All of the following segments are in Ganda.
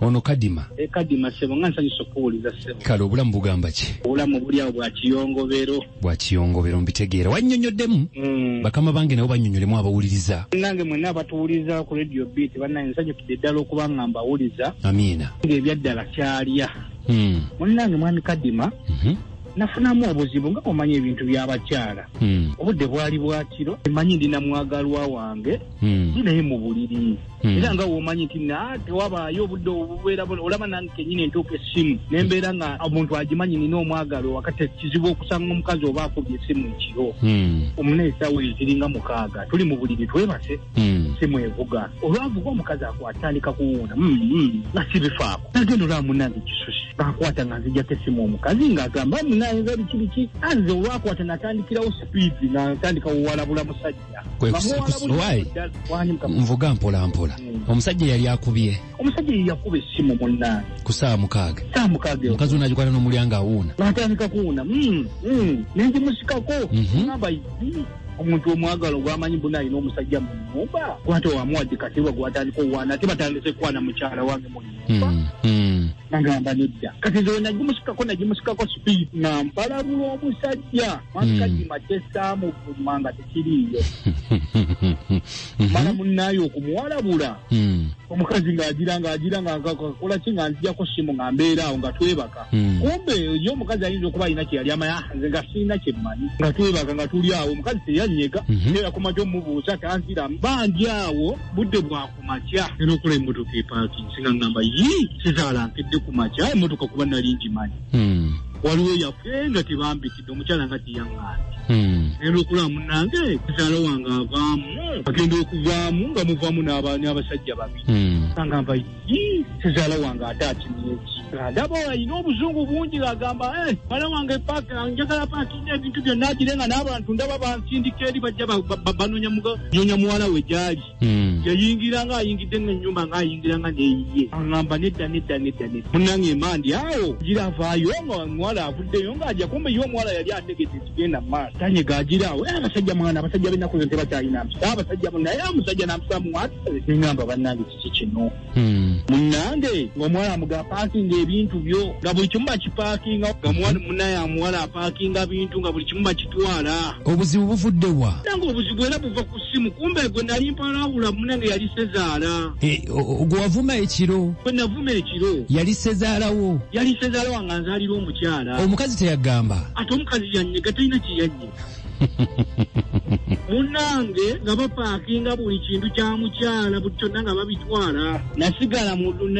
ono kadima e kadima sebo nga nsanyusa okuwuliza sebo kale obulamu bugamba ki obulamu buli awo bwa kiyongobero bwa kiyongobero mbitegeera wannyonnyoddemu mm. bakama bange nabo bannyonnyolemu abawuliriza nange mwena abatuwuliriza ku radio beat bannaye nsanyukidde ddala okuba nga mbawuliza amiina ng'ebyaddala kyalya mm. munnange mwami kadima mm -hmm. nafunamu obuzibu nga omanya ebintu byabakyala hmm. obudde bwali bwakiro emanyi ndi namwagalwa wange hmm. ndi naye mu buliri Hmm. era nga womanyi nti na tewabaayo obudde obubeera olaba nange kenyini entuuka essimu nembeera nga omuntu agimanyi nina omwagalo wakati kizibu okusanga omukazi oba akubye essimu ekiro hmm. omuna esawo eziringa mukaaga tuli mu buliri twebase hmm. simu evuga olwavuga omukazi akwatandika kuwuuna nga sibifaako nagenda olaba munange kisusi akwata nga nzijako essimu omukazi ngaagamba munange biki biki anze olwakwata natandikirawo sipiidi natandika wowalabula musajja nvuga mpola mpola hmm. omusajja yali akubye omusajja yeyakuba essimu munna ku saawa mukaaga saawa mukaaga omukazi ono agikwata n'omulyanga awuuna natandika kuwuuna hmm, hmm. nengimusikako mhm. namba omuntu omwagala ogwamanyi mbuna alina omusajja mu nyumba gwate wamuwadde katiwa gwatandika owaana ate batandise kukwana mukyala wange hmm, hmm. nagamba nedda kati nze wenagimusikako nagimusikako speed nga mpalabula omusajja makadima hmm. kyesaamuvuma nga tekiriiyo mala munaaye okumuwalabula omukazi ngaagira ngaagira ngakola ki nga nzijako simu nga mbeera awo nga twebaka kumbe yo omukazi ayinza okuba alina kyeyali amaya ah, nze nga siina kyemmanyi nga twebaka nga tuli awo omukazi teyanyega mhm. era kumaja omubuuza tanziramu bangi awo budde bwaku ku makya era okola emmotoka epaakingi singa ngamba yi kizaala nkedde ku makya emmotoka kuba nali ngimanyi hmm. waliwo yafe nga tebambikidde omukyala nga tiyaŋŋaani hmm. naye lwokuba munange kizaala wange avaamu agenda okuvaamu nga muvaamu n'abasajja babi hmm. angamba yi kizaala wange ate akimyeki ndaba alina obuzungu bungi agamba eh, mwana wange njagala paakinga ebintu byonna agire nga n'abantu ndaba bansindika eri bajja banoonya muwala we gyali Mm. yayingira nga ayingidde nga enyumba nga ayingira nga neyiye aŋamba nedda nedda nedda nedda munange emandi awo gira avaayo nga omuwala avuddeyo nga aja kumbe ye omuwala yali ategedde ekigenda mu maaso tanyega agira awo "Eh, abasajja mwana abasajja benaku zo tebakyalina mpisa abasajja munaye omusajja nampisa muwatale neŋamba bannange kiki kino Hmm. munange ngaomuwala amuga apaakinga ebintu byo nga buli kimu bakipaakinga nga muwala munaye amuwala apaakinga bintu nga buli kimu bakitwala obuzibu buvudde wa nange obuzibu era buva ku ssimu kumbe gwe nali mpalawula munange yali sezaala eh, gwe wavuma ekiro gwe navuma ekiro yali sezaalawo yali sezaala wange anzaalira omukyala omukazi teyagamba ate omukazi yanyega talina kye yanyega munange nga bapakinga buli kintu kya mukyala buli kyonna nga babitwala nasigala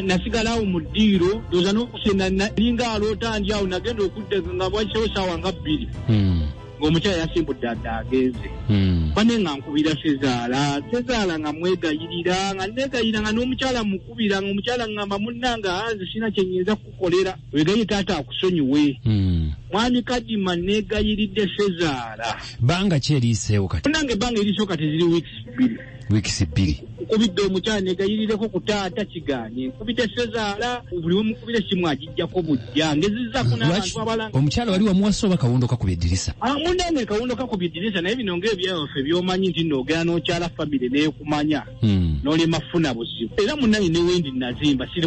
nasigalawo mu ddiiro ndoza n'okusenda nalinga aloota ndi awo nagenda okudda nga bwakisewo saawa nga bbiri hmm. ng'omukyala yasimbudde adda agenze hmm. bane nga nkubira sezaala sezaala nga mwegayirira nga negayira nga n'omukyala mukubira nga omukyala ngamba munange anze sirina kyenyinza kukukolera wegaye taata akusonyiwe hmm. mwami kadima negayiridde sezaala banga ki eriiseewo kati nange ebanga eriisewo kati ziri weeks bbiri weeks bbiri nkubidde omukyala negayirireko ku taata kiganye nkubidde sezaala buli wemukubira esimu agijjako bujja ngezizaku nabantu abalanga omukyala wali wamuwasa oba kawundo kakuba eddirisa ah, munange kawundo kakuba eddirisa naye bino nga ebyaffe byomanyi nti nogera nokyala famire nekumanya hmm. nolema funa buzibu era munange newendi nazimba siri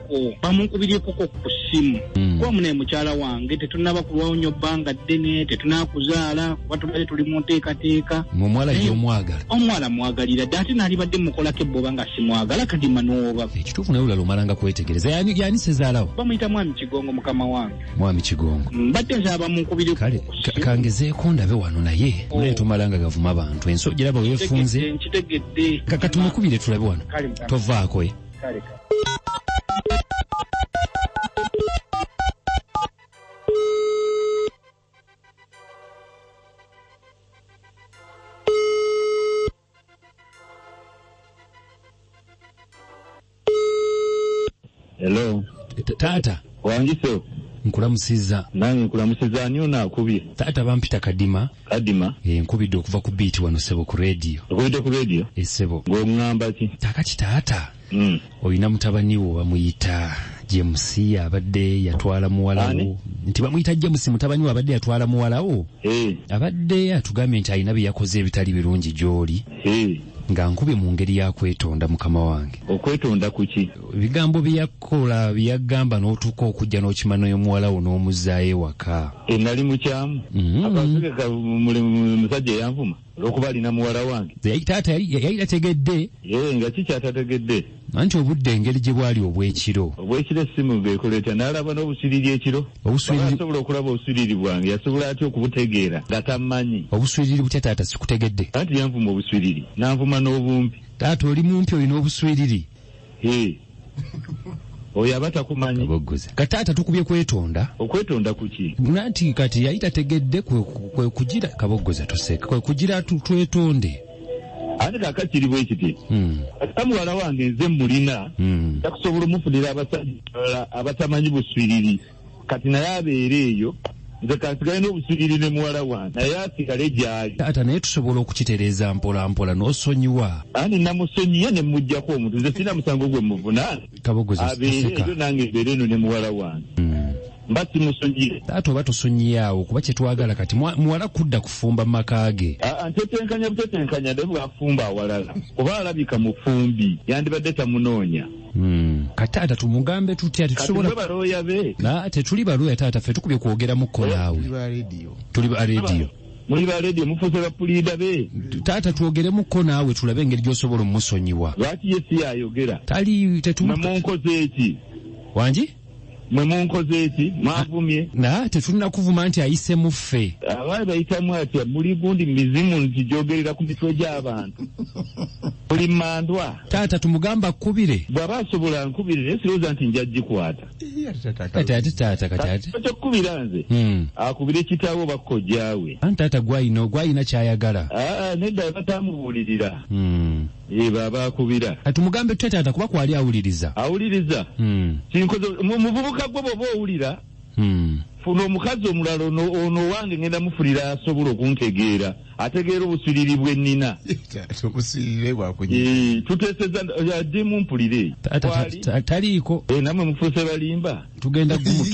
mukwano bamunkubiryekoko ku ssimu hmm. kuba munaye mukyala wange tetunaba kulwawo nyo bbanga ddene tetunakuzaala kuba tubadde tuli mu nteekateeka omuwala yomwagala omuwala mwagalira dde ate naalibadde mukolako ebboba nga simwagala kadima nooba ekituufu naye olala omalanga kwetegereza yani sezaalawo bamuyita mwami kigongo mukama wange mwami kigongo mbadde nzaba munkubire kale kangezeeko ndabe wano naye oh. naye tumalanga gavuma abantu ensi ogiraba wefunze nkitegedde kakatumukubire tulabe wano tovaako eh. kale kale Hello. Ta- taata Wangiso. nkulamusizza Nange nkulamusiza ani ono akubye? taata bampita kadima Kadima. Eh, nkubidde okuva ku beat wano sebo ku radio. Nkubidde ku radio? Eh, sebo. Ng'ongamba ki? Kakati taata. Mm. Olina mutabani wo bamuyita James abadde yatwala muwalawo nti bamuyita James mutabani we abadde yatwala muwalawo hey. Eh. abadde atugambye nti alina bye yakoze ebitali birungi gy'oli hey. Eh. nga nkubye mu ngeri ya kwetonda mukama wange okwetonda kuki ebigambo byeyakola byeyagamba n'otuuka okujja n'okima n'omuwala wo n'omuzaayo ewaka e, nali mukyamu mm-hmm. akategeka musajja eyanvuma olwokuba alina muwala wange taata yali tategedde nga kikyatategedde anti obudde engeri gye bwali obw'ekiro obw'ekiro essimu beekola etya n'alaba n'obusiriri ekiro asobola okulaba obusiriri bwange yasobola atya okubutegeera nga tammanyi obuswiriri butya taata sikutegedde anti yanvuma obuswiriri n'anvuma n'obumpi taata oli mumpi olina obuswiriri Hee. Oyo aba takumanyi. Aboggoza. Ka taata tukubye kwetonda. Okwetonda kuki? Nanti kati yali tategedde kwe, kwe kugira kaboggoza tuseka. Kwe kugira tu- twetonde. Ani kaka kiri bwe kiti. Mm. Ata muwala wange nze mulina. Mm. Nja kusobola omufunira abasajja abalala abatamanyi buswiriri. kati naye abeere eyo nze kansigale n'obusigiri ne muwala wange naye asigale gyali taata naye tusobola okukitereeza mpolampola n'osonyiwa ani namusonyiye ne mujjako omuntu nze sirina musango gwe muvunaana abeere eyo nange mbeere eno ne muwala wange mm. mba simusonyiye taata oba tusonyiye awo kuba kyetwagala kati muwala kudda kufumba maka ge ntetenkanya butetenkanya de bwafumba awalala oba alabika mufumbi yandibadde tamunoonya Hmm. kataata tumugambe tutya tetusobola tetuli balooya taata ffe tukubye kwogera mukko naawe tuli ba rediyo muli ba rediyo mufuuse bapuliida be taata twogeremukko naawe tulabe engeri gyosobola omusonyiwa lwaki ye si yayogera tali tetumunkoze eki wangi mwe munkoze eki mwavumye naye tetulina kuvuma nti ayise muffe abaali bayitamu atya muli gundi mizimu nti gyogerera ku mitwe gy'abantu buli mandwa taata tumugamba akubire bw'aba asobola nkubire naye sirowooza nti nja gikwata kati ate taata kati ate kyokukubira nze Hmm. akubire kitaawe oba kojjaawe anti taata gwayina gwayina kyayagala aa nedda batamubuulirira Hmm. Yee baaba akubira. Tumugambe tutya taata kuba kwali awuliriza. Awuliriza? Hmm. Kinkoze muvubuka gwe bwoba owulira. Hmm. Funa omukazi omulala ono ono wange ngenda mufulira asobola okuntegeera ategeera obusiriri bwe nina. Obusiriri bwa kunyi. Yee tuteseza yadde mumpulire. Taata taliiko. Ee namwe mufuse balimba. Tugenda gumu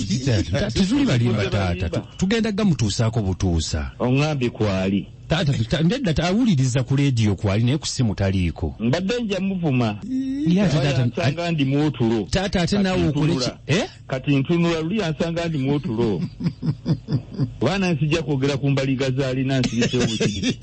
tuzuli balimba taata. Tugenda gamutuusaako butuusa. Ongambye kwali. taata ndedda tawuliriza ku leediyo kwali naye ku simu taliiko mbadde nja muvuma yansanga ndi mwotulo taata ate naawe okoleki eh? kati ntunula luli yansanga ndi mwotulo baana nsijja kwogera ku mbaliga zaalina nsirise obukiri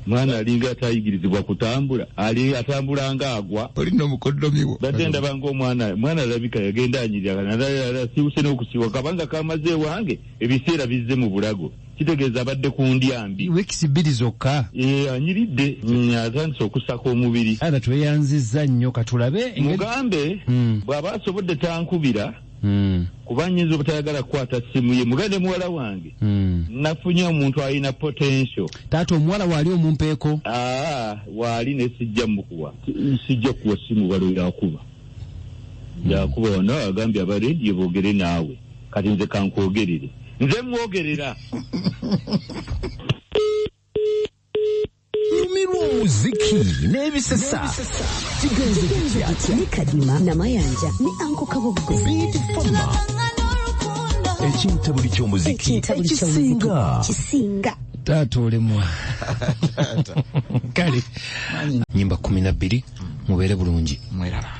mwana alinga atayigirizibwa kutambula ali atambula nga agwa olina omukoddomiwo bate ndaba nga omwana mwana alabika yagenda anyirira nalala siwuse n'okusiwa kabanga kamaze ewange ebiseera bizze mu bulago kitegeeza abadde ku ndya mbi wiikisi bbiri zokka eh, anyiridde mm, atandise okusaka omubiri ara tweyanzizza nnyo katulabe mugambe hmm. bw'aba asobodde tankubira Hmm. kuba nyinza obutayagala kukwata simu ye mugende muwala wange hmm. nafunye omuntu alina potential taata omuwala waali omumpeeko aa ah, waali nesijja mukuwa sijja kuwa simu balo yakuba yakuba ono agambye aba rediyo boogere naawe kati nze kankwogerere nze mwogerera lumirwa omuziki n'ebisesa kigenze kityakya ne kadima namayanja ne anko kaboggo biidi fama ekintabuli ky'omuziki ekisinga kisinga taata olemwa kale nyimba kumi na bbiri mubeere bulungi mweraba